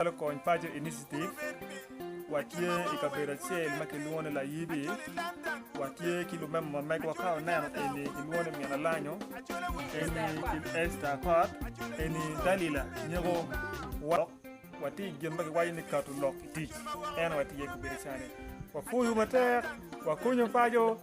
Calo Kony Paco Initiative, watye i kabedo acel ma kilwongo ni Layibi. Watye ki lumemo ma megwa ka oneno eni kilwongo ni Min Alanyo, eni Esta Apat, eni Dalila Nyeko. Wa- Watye i gin ma giwaco ni kato lok i tic. En aye watye i kabedo cani. Wapwoyo matek, wakonyo paco.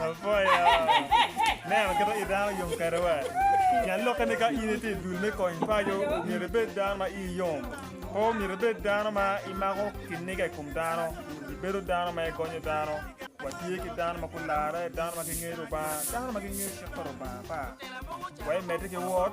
Apoya. Neno kit ma i dano yom kwede wa. Pien lokke ni ka in itye i dul me kony paco, myero ibed dano ma ii yom. Pe myero ibed dano ma imako kiniga i kom dano. Ibedo dano ma igonyo dano. Watye ki dano ma gularre, dano ma gingeyo Lubanga, dano ma gingeyo cik pa Lubanga pa. Wek imedde ki wot.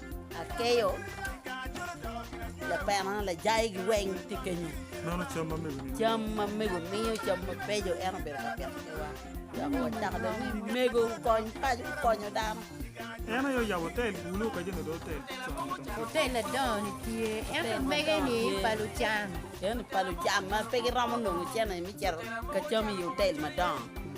Akeyo lapena lajayi gi weng ti kenyo. Meno cam ma mego miyo. Cam ma mego miyo cam ma bejo en obedo ka pito kewa. Dok wacako dong ni mego kony paco konyo dano. En aye oyabo otel gulu ka jami do otel. Otel ladongo ni tye. Ento mege ni pa lucam. Eno pa lucam ma pe giromo nongo cene mi cito ka cam i otel madongo.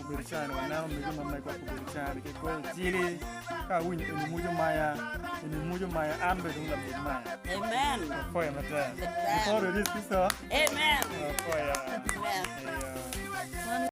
Obedo can waneno mege ma megwa obedo can ki kweyo cili ka awinyo eni mujo maya eni mujo maya an be dong labut maya amen apoya matek before it is sister amen apoya amen